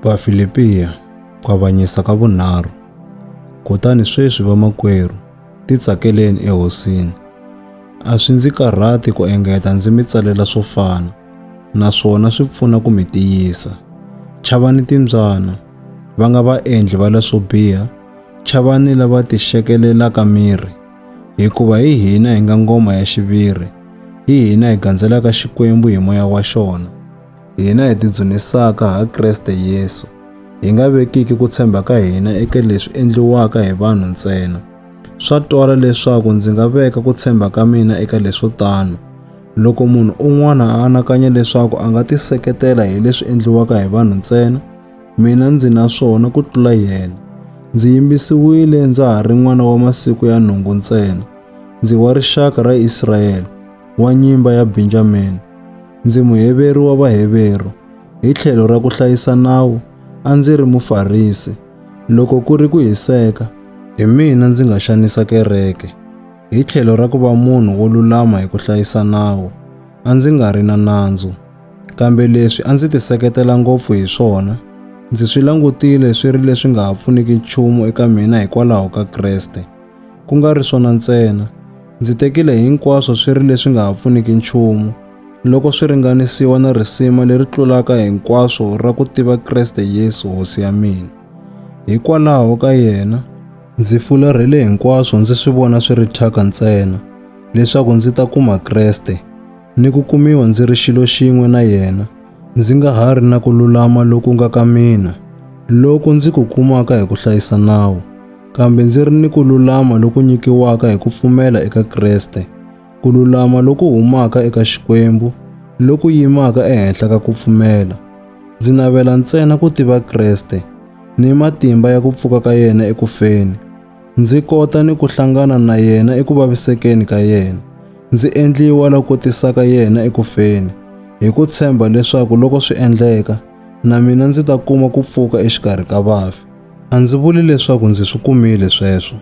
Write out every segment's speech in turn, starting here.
Vafilipiya, ku avanyisa ka vunharhu. Kutani sweswi vamakwerhu, titsakeleni eHosini. A swi ndzi karhati ku engeta ndzi mi tsalela swo fana, naswona swi pfuna ku mi tiyisa. Chavani timbyana, va nga vaendli va leswo biha, chavani lava tixekelelaka miri, hikuva hi hina hi nga ngoma ya xiviri, hi hina hi gandzelaka Xikwembu hi moya wa xona. hina hi tidzunisaka ha Kreste Yesu, hi nga vekiki ku tshemba ka hina eka leswi endliwaka hi vanhu ntsena. Swa twala leswaku ndzi nga veka ku tshemba ka mina eka leswo tano. Loko munhu un'wana a anakanya leswaku a nga tiseketela hi leswi endliwaka hi vanhu ntsena, mina ndzi na swona ku tlula yena. Ndzi yimbisiwile ndza ha ri n'wana wa masiku ya nhungu ntsena, ndzi wa rixaka ra Israyele, wa nyimba ya Benjamini. ndzi Muheveru wa Vaheveru, hi tlhelo ra ku hlayisa nawu a ndzi ri Mufarisi, loko ku ri ku hiseka, hi mina ndzi nga xanisa kereke, hi tlhelo ra ku va munhu wo lulama hi ku hlayisa nawu a ndzi nga ri na nandzu, kambe leswi a ndzi tiseketela ngopfu hi swona ndzi swi langutile swi ri leswi nga ha pfuniki nchumu eka mina hikwalaho ka Kreste. Ku nga ri swona ntsena, ndzi tekile hinkwaswo swi ri leswi nga ha pfuniki nchumu, loko swi ringanisiwa na risima leri tlulaka hinkwaswo ra ku tiva Kreste Yesu Hosi ya mina. Hikwalaho ka yena, ndzi fularhele hinkwaswo ndzi swi vona swi ri thyaka ntsena, leswaku ndzi ta kuma Kreste, ni ku kumiwa ndzi ri xilo xin'we na yena, ndzi nga ha ri na ku lulama loku nga ka mina, loku ndzi ku kumaka hi ku hlayisa nawu. kambe ndzi ri ni ku lulama loku nyikiwaka hi ku pfumela eka Kreste, ku lulama loku humaka eka Xikwembu, loku yimaka ehenhla ka ku pfumela. Ndzi navela ntsena ku tiva Kreste ni matimba ya ku pfuka ka yena eku feni, ndzi kota ni ku hlangana na yena eku vavisekeni ka yena, ndzi endliwa la kotisaka yena eku feni, hi ku tshemba leswaku loko swi endleka, na mina ndzi ta kuma ku pfuka exikarhi ka vafi. A ndzi vuli leswaku ndzi swi kumile sweswo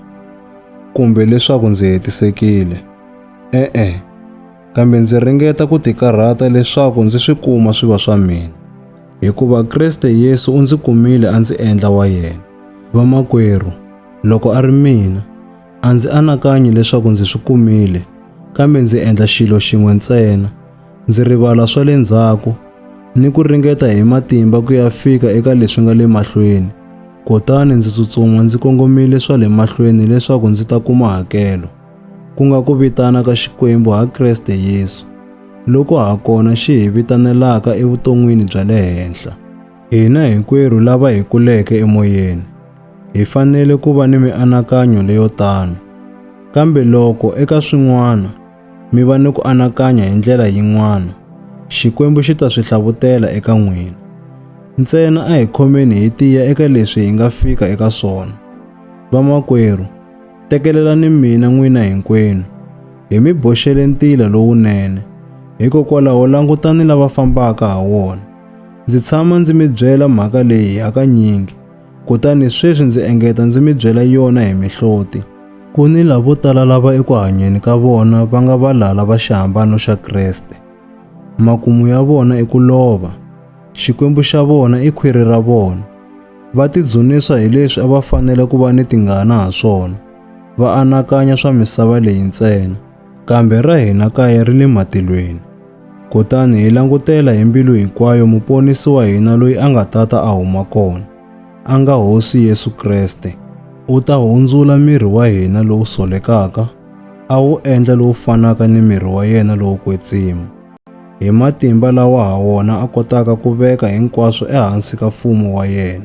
kumbe leswaku ndzi hetisekile. E-e, kambe ndzi ringeta ku tikarhata leswaku ndzi swi kuma swi va swa mina, hikuva Kriste Yesu u ndzi kumile a ndzi endla wa yena. Vamakwerhu, loko a ri mina, a ndzi anakanyi leswaku ndzi swi kumile, kambe ndzi endla xilo xin'we ntsena, ndzi rivala swa le ndzhaku ni ku ringeta hi matimba ku ya fika eka leswi nga le mahlweni kutani ndzi tsutsuma ndzi kongomile swa le mahlweni leswaku ndzi ta kuma hakelo ku nga ku vitana ka Xikwembu ha Kreste Yesu loko ha kona xi hi vitanelaka evuton'wini bya le henhla hina hinkwerhu lava hi kuleke emoyeni hi fanele ku va ni mianakanyo leyo tano kambe loko eka swin'wana mi va ni ku anakanya hi ndlela yin'wana, Xikwembu xi ta swi hlavutela eka n'wina. Ntsena a hi khomeni hi tiya eka leswi hi nga fika eka swona. Vamakwerhu, tekelelani mina n'wina hinkwenu, hi mi boxele ntila lowunene, hikokwalaho langutani lava fambaka ha wona. Ndzi tshama ndzi mi byela mhaka leyi hakanyingi, Kutani sweswi ndzi engeta ndzi mi byela yona hi mihloti. Ku ni lavo tala lava eku hanyeni ka vona va nga valala va xihambano xa Kreste. Makumu ya vona i ku lova. Xikwembu xa vona i khwiri ra vona. Va tidzunisa hi leswi a va fanele ku va ni tingana ha swona, va anakanya swa misava leyi ntsena. Kambe ra hina kaya ri le matilweni. Kutani hi langutela hi mbilu hinkwayo Muponisi wa hina loyi a nga tata a huma kona, a nga Hosi Yesu Kreste. U ta hundzula miri wa hina lowu solekaka a wu endla lowu fanaka ni miri wa yena lowo kwetsima, hi matimba lawa ha wona a kotaka ku veka hinkwaswo ehansi ka mfumo wa yena.